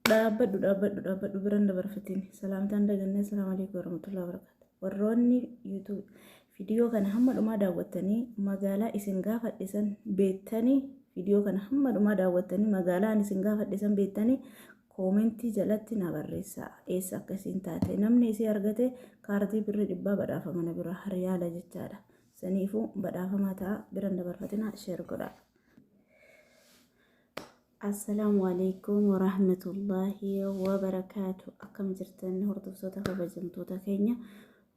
Dhaabbadhu dhaabbadhu dhaabbadhu biran dabarfatiin salaamtaan dagannee salaamu alaikum warahmatullahi wabarakatuh warroonni YouTube viidiyoo kana hamma dhumaa daawwattanii magaalaa isin gaafadhisan beettanii viidiyoo kana hamma dhumaa daawwattanii magaalaa ani isin gaafadhisan beettanii koomentii jalatti na barreessaa eessa akka isin taate namni isii argate kaardii birrii dhibbaa badhaafama na bira hariyaala jechaadha saniifuu badhaafamaa ta'a biran dabarfatinaa sheer godhaa. Assalaamu alaikum warahmatullaahi wabarakaatu akkam jirtan hordoftoota kabajamtoota keenya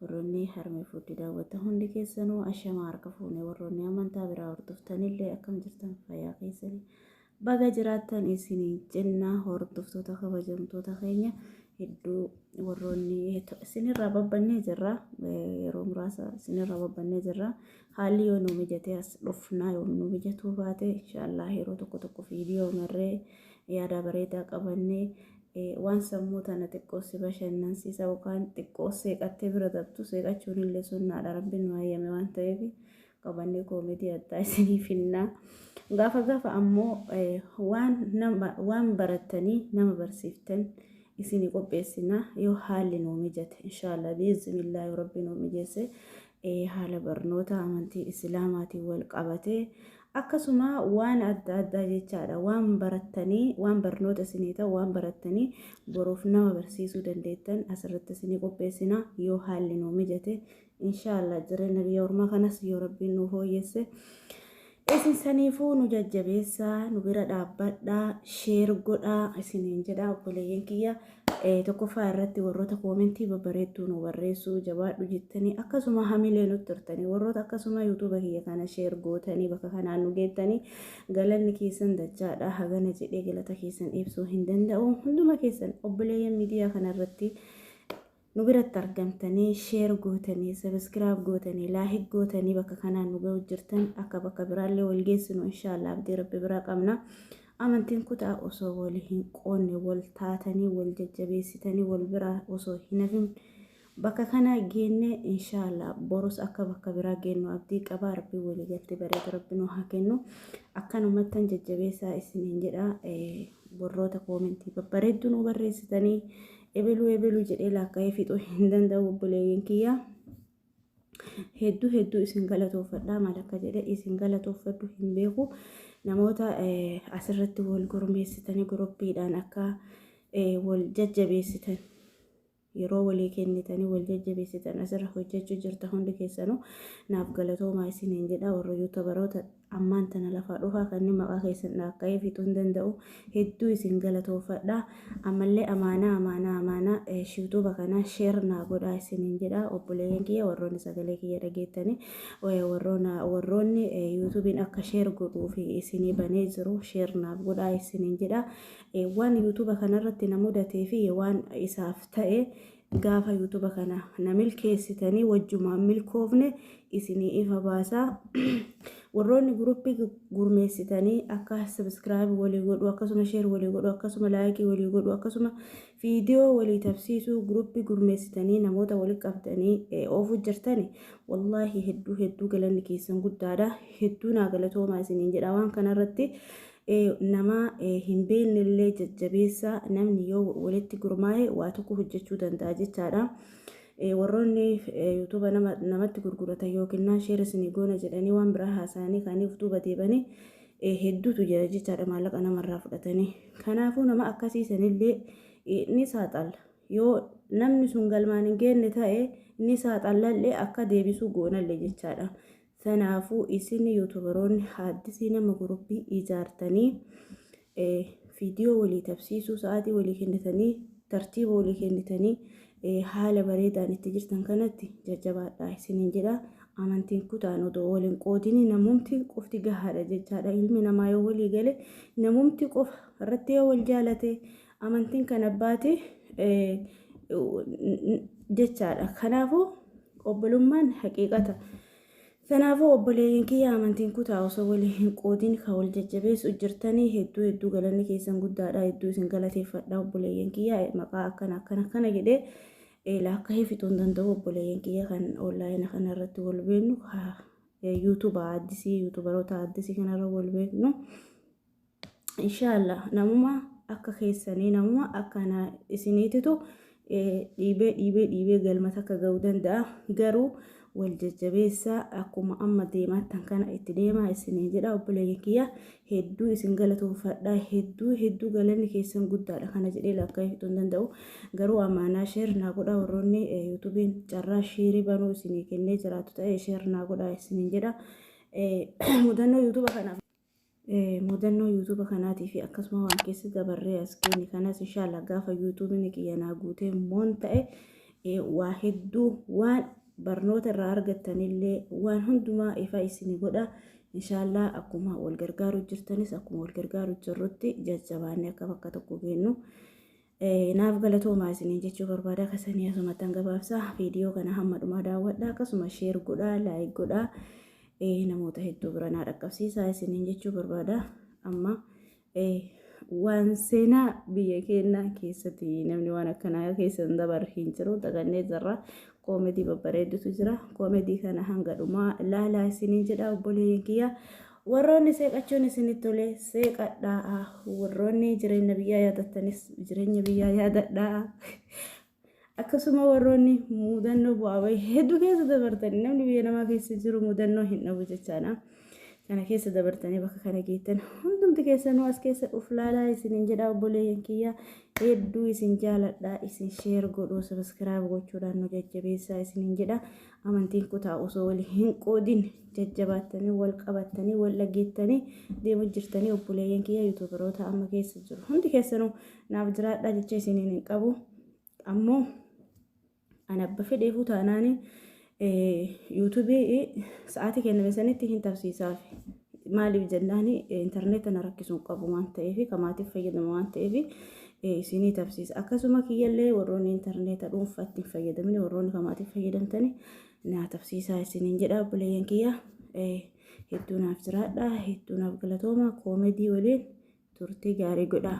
warroonni harmee fuuddi daawwata hundi keessanuu ashamaa harka fuune warroonni amantaa biraa hordoftanillee akkam jirtan fayyaa keessanii baga jiraattan isiniin jenna hordoftoota kabajamtoota keenya hedduu warroonni isinirraa babbannee jirra yeroo muraasa isinirraa babbannee jirra Haalli yoo nu mijatee as dhufnaa yoo nu mijatuu baate inshaallah yeroo tokko tokko viidiyoo marree yaadaa bareedaa qabannee waan sammuu tana xiqqoo si bashannansiisa yookaan xiqqoo seeqattee bira dabtu seeqachuun illee sunnaadha rabbiin nu hayyame waan ta'eef qabannee koomedii addaa isinii finnaa. Gaafa gaafa ammoo waan nama waan barattanii nama barsiiftan isinii qopheessinaa yoo haalli nu mijate inshaallah biiznillaahi rabbi nu mijeesse haala barnoota amantii Isilaamaatiin wal qabatee akkasuma waan adda addaa jechaadha waan barattanii waan barnoota isinii ta'u waan barattanii boruuf nama barsiisuu dandeettan asirratti isinii qopheessina yoo haalli nuu mijate inshaallah jireenya biyya ormaa kanas yoo rabbiin nuu fooyyesse Isin saniifuu nu jajjabeessaa, nu bira dhaabbadhaa, share godhaa isiniin jedha obboleeyyan kiyya. Eh, Tokkoffaa irratti warroota koomentii babbareedduu nu barreessuu jabaadhu jettanii akkasuma hamilee nutti turtanii warroota akkasuma yuutuuba kiyya kana share gootanii bakka kanaan nu geettanii galanni keessan dachaadha hagana jedhee galata keessan ibsuu hin danda'u hunduma keessan obboleeyyan miidiyaa kana irratti Nu biratti argamtanii share gootanii subscribe gootanii like gootanii bakka kanaan nu ga'u jirtan akka bakka biraallee wal geessinu inshallah abdii rabbi biraa qabna. Amantiin kutaa osoo wal hin qoonne wal taatanii wal jajjabeessitanii wal biraa osoo hin hafin bakka kanaa geennee inshallah borus akka bakka biraa geennu abdii qabaa rabbi walii galtee bareedu rabbi nu haa kennu akkanumattan jajjabeessaa isiniin jedha warroota koomentii babbareedduu nu barreessitanii ebeluu ebeluu jedhee laakka'ee fixuu hin danda'u obboleeyyiin kiyya hedduu hedduu isin galatoofadhaa maal akka jedhe isin galatoofadhu hin beeku namoota asirratti wal gurmeessitanii guruppiidhaan akka wal jajjabeessitan yeroo walii kennitanii wal jajjabeessitan asirra hojjechuu jirta hundi keessanuu naaf galatoomaa isiniin jedha warra yuutabaroota Ammaan tana lafaa dhufaa kanniin maqaa keessan dhaakka'ee fixuu hin danda'u. Hedduu isin galatoofadha. Ammallee amaanaa amaanaa amaanaa shiwtuuba kana sheer naa godhaa isiniin jedha. Obboleeyyan kiyya warroonni sagalee kiyya dhageettani warroona warroonni yuutuubiin akka sheer godhuuf isinii banee jiru sheer naaf godhaa isiniin jedha. Waan yuutuuba kanarratti na mudatee fi waan isaaf ta'e Gaafa YouTube kana na milkeessitanii wajjumaan milkoofne isinii ifa baasa. Warroonni guruppii gurmeessitanii akka subscribe walii godhu akkasuma share walii godhu akkasuma like walii godhu akkasuma viidiyoo walii tabsiisuu guruppii gurmeessitanii namoota walii qabdanii oofuu jirtani wallaahi hedduu hedduu galanni keessan guddaadha hedduu naa galatoomaa isiniin jedha waan kanarratti nama hin beekne illee jajjabeessa. Namni yoo walitti gurmaa'e waa tokko hojjechuu danda'a jechaadha. Warroonni yuutuuba namatti gurguratan yookiin sheer isinii goona jedhanii waan biraa haasa'anii kaanii of duuba deebanii hedduutu jira jechaadha maallaqa namarraa fudhatanii. Kanaafuu nama akkasii sanillee ni saaxalla. Yoo namni sun galmaan hin geenne ta'e ni saaxallallee akka deebisuu goonallee jechaadha. Kanaafuu isin yuutubaroonni haaddisii nama gurupii ijaartanii viidiyoo walii tabsiisuu sa'aatii walii kennitanii tartiiba walii kennitanii haala bareedaan itti jirtan kanatti jajjabaadhaa isiniin jedha. Amantiin kutaan odoo waliin qoodinii namumti qofti gahaadha jechaadha. Ilmi namaa yoo walii gale namumti qofa irratti yoo wal jaalate Amantiin kan abbaati jechaadha. Kanaafuu obbolummaan haqiiqata. Kanaafuu obboleeyyan kiyya amantiin kutaa osoo walii hin qoodin kan wal jajjabeessu jirtanii hedduu hedduu galanni keessan guddaadha hedduu isin galateeffadha obboleeyyan kiyya maqaa akkana akkana akkana jedhee laakka heefituu hin danda'u obboleeyyan kiyya kan onlaayina kana irratti wal beennu yuutuba addisii yuutubaroota addisii kanarra wal beennu. inshallah namuma akka keessanii namuma akka na isiniititu dhiibee dhiibee dhiibee galma takka ga'uu danda'a garuu wal jajjabeessaa akkuma amma deemaattan kana itti deemaa isiniin jedha obboleeyyan kiyya hedduu isin galatoofadha hedduu hedduu galanni keessan guddaadha kana jedhee lakkaa'iftuu hin danda'u garuu amaanaa sheer naa godha warroonni yuutuubiin carraa sheerii banuu isinii kennee jiraatu ta'e sheer naa godha isiniin jedha mudannoo yuutuuba kanaaf Mudannoo YouTube kanaatii fi akkasuma waan keessa dabarree as geenye kanas inshallah gaafa YouTube'n kiyya naa guutee moon ta'e waa hedduu waan barnoota irraa argattanillee waan hundumaa ifa isin godha. Inshallah akkuma wal gargaaru jirtanis akkuma wal gargaaru jirrutti jajjabaannee akka bakka tokko geennu. Naaf galatoomaa isiniin jechuu barbaada kasanii asumattan gabaabsa viidiyoo kana hamma dhumaa daawwadha akkasuma sheer godhaa laayik godhaa namoota hedduu bira naa dhaqqabsiisaa isiniin jechuu barbaada amma waan seenaa biyya keenyaa keessatti namni waan akkanaa keessa hin dabar hin jiru dagannee jirra koomedii babbareedutu jira koomedii kana hanga dhumaa laalaa isiniin jedha obboleeyyan kiyya Warroonni seeqachuun isinitti tole seeqadhaa. Warroonni jireenya biyyaa yaadattanis jireenya biyyaa yaadadhaa. Akkasuma warroonni mudannoo bu'aa bahii hedduu keessa dabartanii namni biyya namaa keessa jiru mudannoo hin dhabu jechaadha. Kana keessa dabartanii bakka kana geettan hundumti keessanuu as keessa uf laalaa isinin jedha obboleeyyan kiyya hedduu isin jaaladha isin sheer godhuu sabiskiraayib gochuudhaan nu jajjabeessaa isinin jedha. Amantiin kutaa osoo wal hin qoodin jajjabaattanii wal qabattanii wal dhageettanii deemu jirtanii obboleeyyan kiyya yuutuubaroota amma keessa jiru hundi keessanuu naaf jiraadhaa jecha isiniin hin qabu ammoo an abba fedheefuu taanaanii yuutuubii sa'aatii kenname sanitti hin tarsiisaafi. Maaliif jennaan intarneeta na rakkisuun qabu waan ta'eef ka maatiif fayyadama waan ta'eef isinii tabsiisa. Akkasuma kiyyallee warroonni intarneeta dhuunfaa ittiin fayyadamne warroonni ka maatiif fayyadamtani naa tabsiisaa isiniin jedha obboleeyyan kiyya. Hedduu naaf jiraadha hedduu naaf galatooma koomedii waliin turtii gaarii godhaa.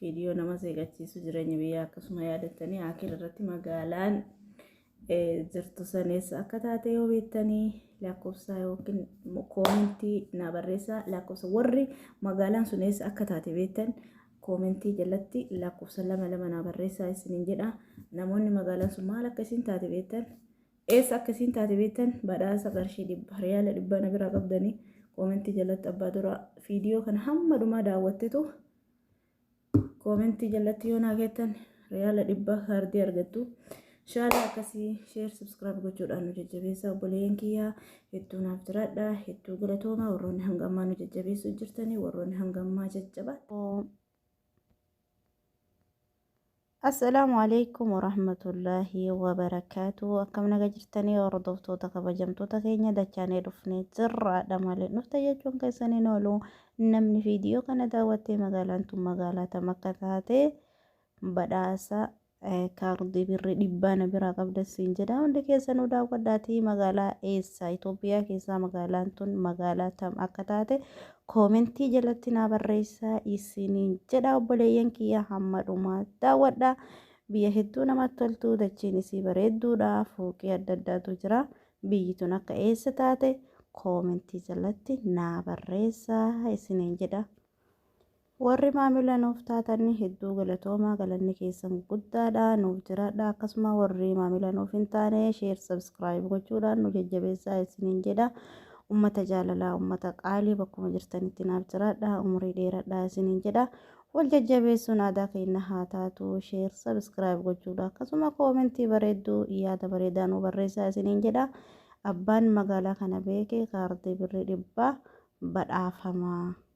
Viidiyoo nama seeqachiisu jireenya biyyaa akkasuma yaadattanii akira irratti magaalaan jirtu saneessa akka taate yoo beektanii lakkoofsa yookiin koomentii naa barreessaa lakkoofsa warri magaalaan sun eessa akka taate beektan koomentii jalatti lakkoofsa lama lama naa barreessaa isiniin jedha namoonni magaalaan sun maal akka isin taate beektan eessa akka isin taate beektan badhaasa qarshii dhibba riyaala dhibba na biraa qabdanii koomentii jalatti abbaa dura viidiyoo kana hamma dhumaa daawwattetu koomentii jalatti yoo naa keettan riyaala dhibba kaardii argattu shaala akkasii sheer subscribe gochuudhaan nu jajjabeessaa obboleeyyan kiyyaa hedduu naaf jiraadha hedduu galatoomaa warroonni hanga ammaa nu jajjabeessuu jirtanii warroonni hanga ammaa jajjabaa Assalaamu alaikum warahmatullaahi wabarakaatu akkam naga jirtanii hordoftoota kabajamtoota keenya dachaanee dhufnee jirraadha malee dhufte jechuun keessan hin oolu namni viidiyoo kana daawwattee magaalaan tun magaalaa tam akka taate badhaasa kaardii birrii dhibbaa na biraa qabda siin jedha hundi keessanuu daawwadhaatii magaalaa eessa Itoophiyaa keessaa magaalaan tun magaalaa tam akka taate koomentii jalatti naa barreessaa isiniin jedha obboleeyyan kiyya hamma dhumaa daawwadha biyya hedduu namatti toltu dachiin isii bareedduudha fooqii adda addaatu jira biyyi tun akka eessa taate koomentii jalatti naa barreessaa isiniin jedha Warri maamila nuuf taatan hedduu galatoomaa galanni keessan guddaadha nuuf jiraadha akkasuma warri maamila nuuf hin taane sheer sabskiraayib gochuudhaan nu jajjabeessaa isiniin jedha ummata jaalalaa ummata qaalii bakkuma jirtanitti naaf jiraadha umurii dheeradha isiniin jedha wal jajjabeessuun aadaa keenya haa taatu sheer sabskiraayib gochuudha akkasuma koomentii bareedduu yaada bareedaa nu barreessaa isiniin jedha abbaan magaalaa kana beeke kaardii birrii dhibbaa badhaafamaa.